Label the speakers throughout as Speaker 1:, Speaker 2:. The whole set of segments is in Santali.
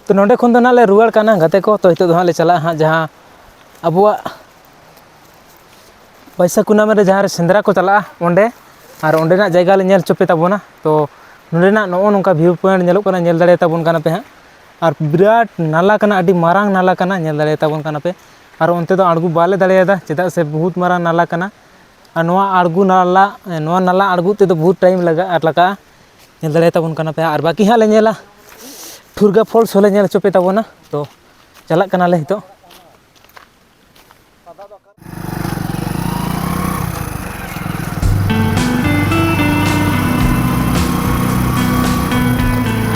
Speaker 1: ᱛᱚ ᱱᱚᱸᱰᱮ ᱠᱷᱚᱱ ᱫᱚ ᱱᱟᱦᱟᱜ ᱞᱮ ᱨᱩᱣᱟᱹᱲ ᱠᱟᱱᱟ ᱜᱟᱛᱮ ᱠᱚ ᱛᱚ ᱱᱤᱛᱚᱜ ᱫᱚ ᱦᱟᱸᱜ ᱞᱮ ᱪᱟᱞᱟᱜᱼᱟ ᱦᱟᱸᱜ ᱡᱟᱦᱟᱸ ᱟᱵᱚᱣᱟᱜ ᱵᱟᱹᱭᱥᱟᱹᱠᱷ ᱠᱩᱱᱟᱹᱢᱤ ᱨᱮ ᱡᱟᱦᱟᱸ ᱨᱮ ᱥᱮᱸᱫᱽᱨᱟ ᱠᱚ ᱪᱟᱞᱟᱜᱼᱟ ᱚᱸᱰᱮ ᱟᱨ ᱚᱸᱰᱮᱱᱟᱜ ᱡᱟᱭᱜᱟ ᱞᱮ ᱧᱮᱞ ᱦᱚᱪᱚ ᱯᱮ ᱛᱟᱵᱚᱱᱟ ᱛᱚ ᱱᱚᱸᱰᱮᱱᱟᱜ ᱱᱚᱜᱼᱚ ᱱᱚᱝᱠᱟ ᱵᱷᱤᱭᱩ ᱯᱚᱭᱮᱱᱴ ᱧᱮᱞᱚᱜ ᱠᱟᱱᱟ ᱧᱮᱞ ᱫᱟᱲᱮᱭᱟ ᱛᱟᱵᱚᱱ ᱠᱟᱱᱟ ᱯᱮ ᱦᱟᱸᱜ ᱟᱨ ᱵᱤᱨᱟᱴ ᱱᱟᱞᱟ ᱠᱟᱱᱟ ᱟᱹᱰᱤ ᱢᱟᱨᱟᱝ ᱱᱟᱞᱟ ᱠᱟᱱᱟ ᱧᱮᱞ ᱫᱟᱲᱮᱭᱟ ᱛᱟᱵᱚᱱ ᱠᱟᱱᱟ ᱯᱮ ᱟᱨ ᱚᱱᱛᱮ ᱫᱚ ᱟᱬᱜᱚ ᱵᱟᱞᱮ ᱫᱟᱲᱮᱭᱟᱫᱟ ᱪᱮᱫᱟᱜ ᱥᱮ ᱵᱚᱦᱩᱫ ᱢᱟᱨᱟᱝ ᱱᱟᱞᱟ ᱠᱟᱱᱟ ᱟᱨ ᱱᱚᱣᱟ ᱟᱬᱜᱚ ᱱᱟᱞᱟ ᱱᱚᱣᱟ ᱱᱟᱞᱟ ᱟᱬᱜᱚ ᱛᱮᱫᱚ ᱵᱚᱦᱩᱫ ᱴᱟᱭᱤᱢ ᱞᱟᱜᱟᱜᱼᱟ ᱟᱨ ᱞᱟᱜᱟᱜᱼᱟ ᱧᱮᱞ ᱫᱟᱲᱮᱭᱟ ᱛᱟᱵᱚᱱ ᱠᱟᱱᱟ ᱯᱮ ᱟᱨ ᱵᱟᱹᱠᱤ ᱦᱟᱸᱜ ᱞᱮ ᱧᱮᱞᱟ ᱴᱷᱩᱨᱜᱟᱹ ᱯᱷᱚᱞᱥ ᱦᱚᱸᱞᱮ ᱧᱮᱞ ᱦᱚᱪᱚ ᱯᱮ ᱛᱟᱵᱚᱱᱟ ᱛᱚ ᱪᱟᱞᱟᱜ ᱠᱟᱱᱟᱞᱮ ᱱᱤᱛᱚᱜ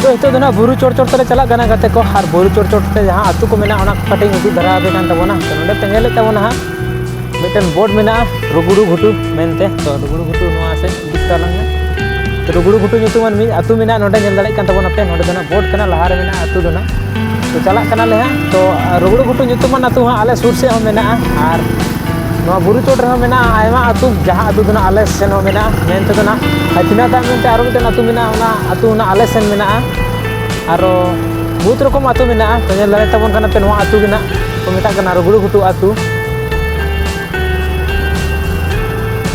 Speaker 1: ᱛᱚ ᱱᱤᱛᱚᱜ ᱫᱚ ᱱᱟᱜ ᱵᱩᱨᱩ ᱪᱚᱴ ᱪᱚᱴ ᱛᱮᱞᱮ ᱪᱟᱞᱟᱜ ᱠᱟᱱᱟ ᱜᱟᱛᱮ ᱠᱚ ᱟᱨ ᱵᱩᱨᱩ ᱪᱚᱴ ᱪᱚᱴ ᱛᱮ ᱡᱟᱦᱟᱸ ᱟᱹᱛᱩ ᱠᱚ ᱢᱮᱱᱟᱜᱼᱟ ᱚᱱᱟ ᱠᱚ ᱠᱟᱹᱴᱤᱡ ᱤᱧ ᱩᱫᱩᱜ ᱫᱷᱟᱨᱟ ᱟᱯᱮ ᱠᱟᱱ ᱛᱟᱵᱚᱱᱟ ᱛᱚ ᱱᱚᱰᱮ ᱯᱮ ᱧᱮᱞᱮᱫ ᱛᱟᱵᱚᱱᱟ ᱦᱟᱸᱜ ᱢᱤᱫᱴᱮᱱ ᱵᱳᱨᱰ ᱢᱮᱱᱟᱜᱼᱟ ᱨᱩᱜᱩᱲᱩ ᱜᱷᱩᱴᱩ ᱢᱮᱱᱛᱮ ᱛᱚ ᱨᱩᱜᱩᱲᱩ ᱜᱷᱩᱴᱩ ᱱᱚᱣᱟ ᱥᱮᱫ ᱨᱩᱜᱩᱲᱩ ᱜᱷᱩᱴᱩ ᱧᱩᱛᱩᱢᱟᱱ ᱢᱤᱫ ᱟᱹᱛᱩ ᱢᱮᱱᱟᱜᱼᱟ ᱱᱚᱰᱮ ᱧᱮᱞ ᱫᱟᱲᱮᱭᱟᱜ ᱠᱟᱱ ᱛᱟᱵᱚᱱᱟᱯᱮ ᱱᱚᱰᱮ ᱫᱚ ᱱᱟᱜ ᱵᱳᱴ ᱠᱟᱱᱟ ᱞᱟᱦᱟᱨᱮ ᱢᱮᱱᱟᱜᱼᱟ ᱟᱹᱛᱩ ᱫᱚ ᱱᱟᱜ ᱛᱚ ᱪᱟᱞᱟᱜ ᱠᱟᱱᱟᱞᱮ ᱦᱟᱸᱜ ᱛᱚ ᱨᱩᱜᱩᱲᱩ ᱜᱷᱩᱴᱩ ᱧᱩᱛᱩᱢᱟᱱ ᱟᱹᱛᱩ ᱦᱚᱸ ᱟᱞᱮ ᱥᱩᱨ ᱥᱮᱫ ᱦᱚᱸ ᱢᱮᱱᱟᱜᱼᱟ ᱟᱨ ᱱᱚᱣᱟ ᱵᱩᱨᱩ ᱪᱚᱴ ᱨᱮᱦᱚᱸ ᱢᱮᱱᱟᱜᱼᱟ ᱟᱭᱢᱟ ᱟᱹᱛᱩ ᱡᱟᱦᱟᱸ ᱟᱹᱛᱩ ᱫᱚ ᱱᱟᱜ ᱟᱞᱮ ᱥᱮᱱ ᱦᱚᱸ ᱢᱮᱱᱟᱜᱼᱟ ᱢᱮᱱ ᱛᱮᱫᱚ ᱱᱟᱜ ᱦᱟᱹᱛᱤᱱᱟ ᱫᱟᱜ ᱢᱮᱱᱛᱮ ᱟᱨᱚ ᱢᱤᱫᱴᱮᱱ ᱟᱹᱛᱩ ᱢᱮᱱᱟᱜᱼᱟ ᱚᱱᱟ ᱟᱹᱛᱩ ᱱᱟᱜ ᱟᱞᱮ ᱥᱮᱱ ᱢᱮᱱᱟᱜᱼᱟ ᱟᱨᱚ ᱵᱚᱦᱩᱛ ᱨᱚᱠᱚᱢ ᱟᱹᱛᱩ ᱢᱮᱱᱟᱜᱼᱟ ᱛᱚ ᱧᱮᱞ ᱫᱟᱲᱮ ᱛᱟᱵᱚᱱ ᱠᱟᱱᱟ ᱯᱮ ᱱᱚᱣᱟ ᱟᱹᱛᱩ ᱜᱮ ᱱᱟᱜ ᱠᱚ ᱢᱮᱛᱟᱜ ᱠᱟᱱᱟ ᱨᱩᱜᱩᱲᱩ ᱜᱷᱩᱴᱩ ᱟᱹᱛᱩ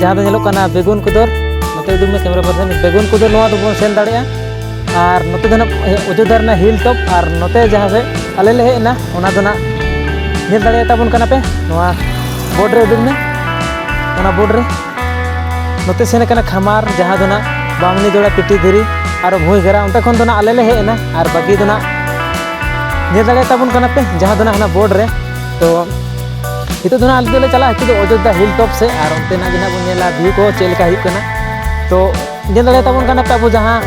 Speaker 1: ᱡᱟᱦᱟᱸ ᱫᱚ ᱧᱮᱞᱚᱜ ᱠᱟᱱᱟ ᱵᱮᱜᱩᱱ ᱠᱚᱫᱚᱨ ᱱᱚᱛᱮ ᱩᱫᱩᱜ ᱢᱮ ᱠᱮᱢᱮᱨᱟ ᱯᱟᱨᱥᱚᱱ ᱵᱮᱜᱩᱱ ᱠᱚᱫᱚᱨ ᱱᱚᱣᱟ ᱫᱚᱵᱚᱱ ᱥᱮᱱ ᱫᱟᱲᱮᱭᱟᱜᱼᱟ ᱟᱨ ᱱᱚᱛᱮ ᱫᱚ ᱱᱟᱦᱟᱜ ᱚᱡᱳᱫᱽᱫᱷᱟ ᱨᱮᱱᱟᱜ ᱦᱤᱞ ᱴᱚᱯ ᱟᱨ ᱱᱚᱛᱮ ᱡᱟᱦᱟᱸ ᱥᱮᱫ ᱟᱞᱮ ᱞᱮ ᱦᱮᱡ ᱮᱱᱟ ᱚᱱᱟ ᱫᱚ ᱱᱟᱦᱟᱜ ᱧᱮᱞ ᱫᱟᱲᱮᱭᱟ ᱛᱟᱵᱚᱱ ᱠᱟᱱᱟ ᱯᱮ ᱱᱚᱣᱟ ᱵᱳᱨᱰ ᱨᱮ ᱩᱫᱩᱜ ᱢᱮ ᱚᱱᱟ ᱵᱳᱨᱰ ᱨᱮ ᱱᱚᱛᱮ ᱥᱮᱱ ᱟᱠᱟᱱᱟ ᱠᱷᱟᱢᱟᱨ ᱡᱟᱦᱟᱸ ᱫᱚ ᱱᱟᱦᱟᱜ ᱵᱟᱢᱱᱤ ᱫᱚᱲᱟ ᱯᱤᱴᱤ ᱫᱷᱤᱨᱤ ᱟᱨ ᱵᱷᱩᱭ ᱜᱷᱮᱨᱟ ᱚᱱᱛᱮ ᱠᱷᱚᱱ ᱫᱚ ᱱᱟᱦᱟᱜ ᱟᱞᱮ ᱞᱮ ᱦᱮᱡ ᱮᱱᱟ ᱟᱨ ᱵᱟᱹᱠᱤ ᱫᱚ ᱱᱟᱦᱟᱜ ᱧᱮᱞ ᱫᱟᱲᱮᱭᱟ ᱛᱟᱵᱚᱱ ᱠᱟᱱᱟ ᱯᱮ ᱡᱟᱦᱟᱸ ᱫᱚ ᱱᱟᱦᱟᱜ ᱚᱱᱟ ᱵᱳᱨᱰ ᱨᱮ ᱛᱚ ᱱᱤᱛᱚᱜ ᱫᱚ ᱱᱟᱜ ᱟᱞᱮ ᱫᱚᱞᱮ ᱪᱟᱞᱟᱜᱼᱟ ᱱᱤᱛᱚᱜ ᱫᱚ ᱚᱡᱳᱫᱽᱫᱷᱟ ᱦᱤᱞ ᱴᱚᱯ ᱥᱮ ᱟᱨ ᱚᱱᱛᱮᱱᱟᱜ ᱜᱮ ᱱᱟᱜ ᱵᱚᱱ ᱧᱮᱞᱟ ᱵᱷᱤᱭᱩ ᱠᱚ ᱪᱮᱫ ᱞᱮᱠᱟ ᱦᱩᱭᱩᱜ ᱠᱟᱱᱟ ᱛᱚ ᱧᱮᱞ ᱫᱟᱲᱮ ᱛᱟᱵᱚᱱ ᱠᱟᱱᱟ ᱟᱵᱚ ᱡᱟᱦᱟᱸ